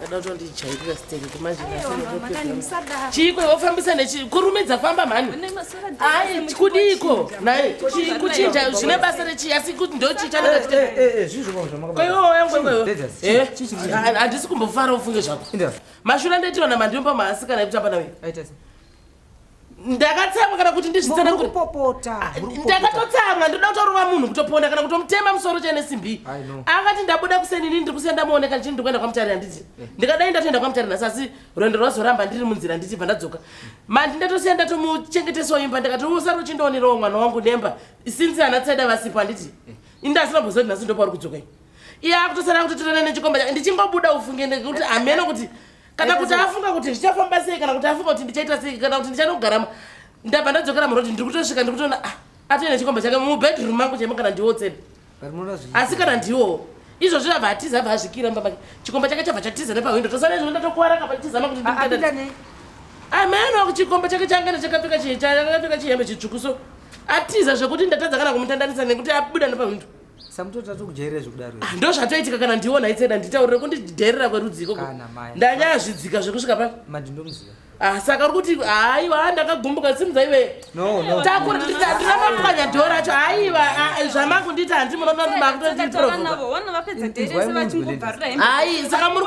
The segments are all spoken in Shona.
Kada kutondijairira sitenge kumanje chiiko wofambisa nechi kurume dzafamba mhani ai kudiiko naye kuchinja zvine basa rechii asi kuti ndochiita handisi kumbofara ufunge zvako mashura ndetiona mandimba maasikana ekutamba nawe ndakatsamwa kana kuti ndizvitsananguripopota ah, ndakatotsamwa ndoda kutorova munhu kutoponda kana kutomutema musoro chene simbi akati ndabuda kuseni ini ndiri kusiya ndamuoneka ndichii ndikuenda kwamutari handiti eh. ndikadai ndatoenda kwamutari nhasi asi rwendo rwazoramba ndiri munzira ndichibva ndadzoka mandi ndatosiya ndatomuchengetesawo imba ndikati usari uchindionerawo mwana wangu nemba sinsi ana tsaida vasipo handiti eh. indasinaboziva kuti nhasi ndopauri kudzokai iye akutosara kutotirana nechikomba chake ndichingobuda ufunge ndekuti hameno kuti kana kuti afunga kuti zvichafamba sei kana kuti afunga kuti ndichaita sei kana kuti ndichanogara ndabva ndadzokera murodi ndiri kutosvika ndiri kutoona ah, atoenda chikomba chake mubedroom mangu chaimo kana ndiwo tsebe asi kana ndiwo izvozvi abva atiza abva azvikira mba make chikomba chake chabva chatiza nepahwindo tosana izvo ndatokuwara kapa nditizama kuti ameno ah, chikomba chake change ndachakapfeka chakapfeka chihembe chitsvuku so atiza zvekuti ndatadza kana kumutandanisa nekuti abuda nepahwindo samutota tokujairira zvekudaro ah, ndo zvatoitika kana ndiona itseda nditaurire kundidherera kwerudzi ikoko ndanyaya zvidzika zvekusvika pa madindomuziva Ah, saka uri kuti haiwa ah, ndakagumbuka simza iwe ndinamapwanya dho racho haiwa ah, zvamangu nditi handi munonoakutotiproai saka muri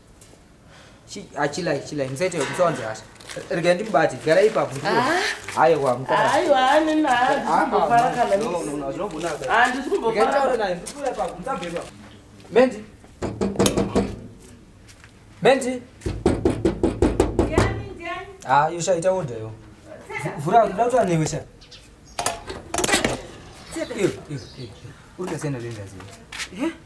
achilai ah, chilai musaite musawanze hasha regai ndimubati gara ipapo aiwa mendi mendi ha ah, yosha ita oda yo vhura ndoda kutaura newe sha uri kasiyana lendaziva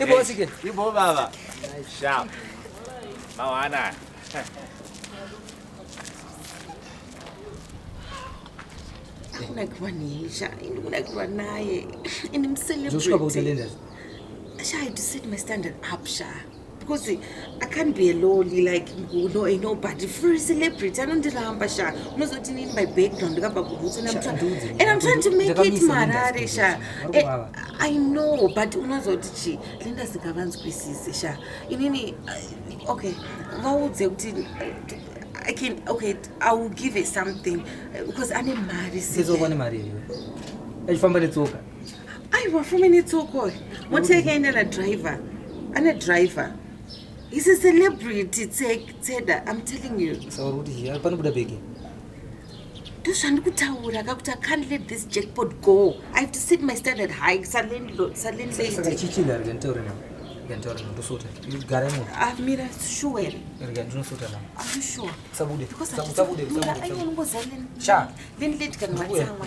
Ibo sike. Ibo baba. Sharp. Mawana. Ndikuda kuva nesha, ndikuda kuva naye. Ini mcelebrity. Zvosvika pautelenda. Sha, I had to set my standard up, Sha. Because I can't be a lowly like you know a nobody for a celebrity. I don't ramba sha. Unozoti need my background kapa kubutsa na mtwa. And I'm trying to make it marare sha. Eh, I know but unozoti chi Linda sikavanzwisise sha. Inini uh, okay. Vaudze kuti I can okay I will give it something uh, because ane mari. Sizokwane mari iwe. Achifamba netsoka. aiwa four minutes okoi mota yake aenda na driver ane driver He's a celebrity, Tseda. I'm telling you. So what is he? Panobuda bege. ndozvandikutaura kakuti i can't let this jackpot go i have to set my standard high salandladyamira sure ndinosotaaasabude because i don't know what's happening landlady kana matsamwa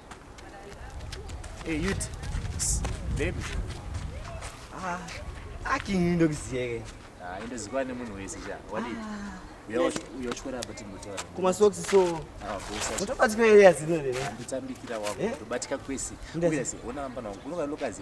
Hey, you baby. Ah, aki ndokuziyeke. Ah, ndozikwa nemunhu wese cha. Wadi. Ah. Uyochwera apa timbotaura. Kuma socks so. Ah, bosa. Utobatika area zino lero. Nditambikira wako. Eh? Utobatika kwese. Uye ona amba nawo. Unoka lokazi.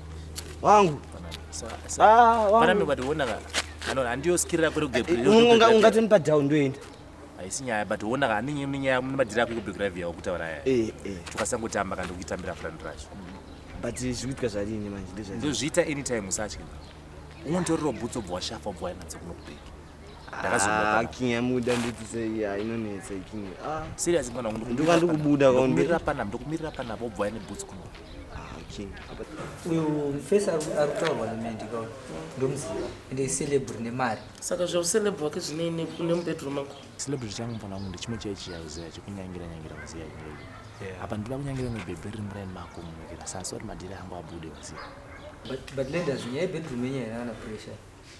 wangu ungati mupa down ndoenda haisi nyaya but ona ka ane nyaya nemadhiri ako ekubegravi yawo kutaura yaya eh, eh. tukasangotamba kana ndokutambira furani racho but zvikuitika zvariini manje ndozviita anytime usatye unonditorero bhutso bva washafa bva wainatsa kunokubeki Ah, king yamuda nditi sei ah, inonetsa king ah. serious mwana wangu ndoka ndikubuda kwaundirira pana ndokumirira pana bobva ine boots kuno king uyo mfesi arikutaurwa nemandi ka ndomuziva ende icelebri nemari saka zvaucelebri wake zvine nemubedroom ako celebri changu mfana wangu ndechimwe chai chiyauzea chekunyangira nyangira maziya ingeyo apa ndinoda kunyangira nebhebhe riri muraini mako munokera sasori madhiri angu abude maziya but lenders nyaya yebedroom yenyaya yanaana pressure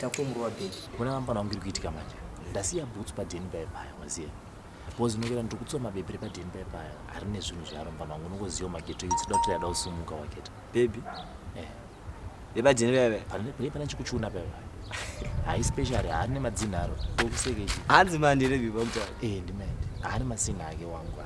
takumurwa big kuna vamfana wangu iri kuitika manje ndasiya boots padeni paye paya maziya bcause ndinokera ndiri kutsiwa mabhebhi repadeni paye paya ari nezvinhu zvaro mfana wangu unongoziva mageto ivi tsida kuti yada kusumuka waketa bhebhi eh. repadeni paye paya pane pane chikuchuna paye paya hai special haari nemadzinha aro okusekechi hanzi mandi rebibamta e eh, ndimandi haari masina ake wangu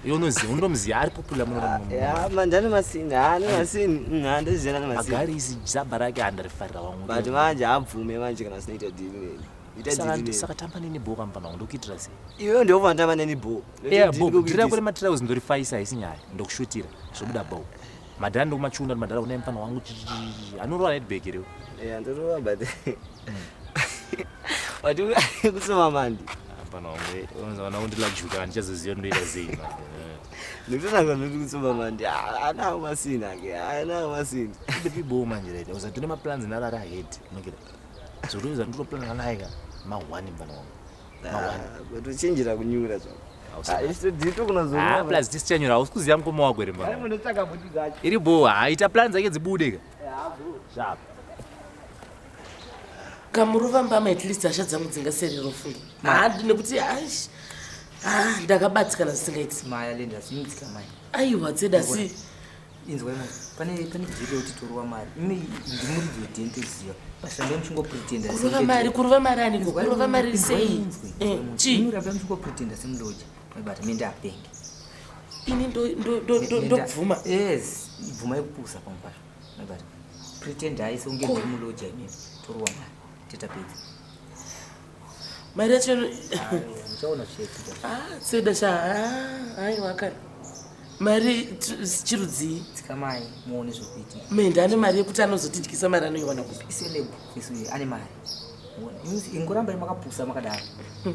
Iwe unoziva unomuziva ari popular muno muno. Yeah, manje ane masini, ah, ane masini. Mm, handizvizera ane masini. Agari izi jaba rake handarifarira wangu. But manje habvume manje kana sinoita deal neni. Saka tamba neni bho kampana wangu ndokuitira sei? Iwe ndiwo vanotamba neni bho. Yeah, bho, ndira kule matirauzi ndorifaisa haisi nyaya. Ndokushutira zvobuda bho. madhara ndokumachunda kuti madhara kunai mfana wangu anorova netbag reo eh, ndorova but but kusoma mandi mfana wangu eh, unonzi vana undilajuka handichazoziva ndoita sei ndikutotanga noti kusoma mandi anawo masini ake anawo masini ndipiboo manje right uza tine maplans nalari ahead nokira so toiza nditoplanana naye ka mahwani mfana wangu Tochinjira kunyura zvako. Ah, plus tisichanyura hausi kuziva mukoma wako iri mbaa iri bho haita plan dzake dzibude ka zvapa kamuruva mbama at least hasha dzangu dzingaserero funga handi nekuti ash ah, ndakabatikana zvisingaiti maya linda sinitika mai aiwa dzeda si inzwai manje pane pane jeri yekuti torova mari imi ndimuridzi wedini toziva pashandai muchingopretenda kurova mari kurova mari ani kurova mari sei eh, chii muramba muchingopretenda semuloja maibata mie ndapenge ini ndobvuma yes ibvuma yekupusa pamwe pacho maibata pretendai seunge ndiri muloja imimi torova mari tetapedza Mai Rachel. Uchaona chichiitika. Ah, tseda sha. Ah, ai wakari. Mari chirudzii? Tsika mai muone zvokuitika. Menda ane mari yekuti anozotidyisa mari anoiwana kupi? Iseleb isu ane mari. Ingoramba makapusa makadaro. Hmm.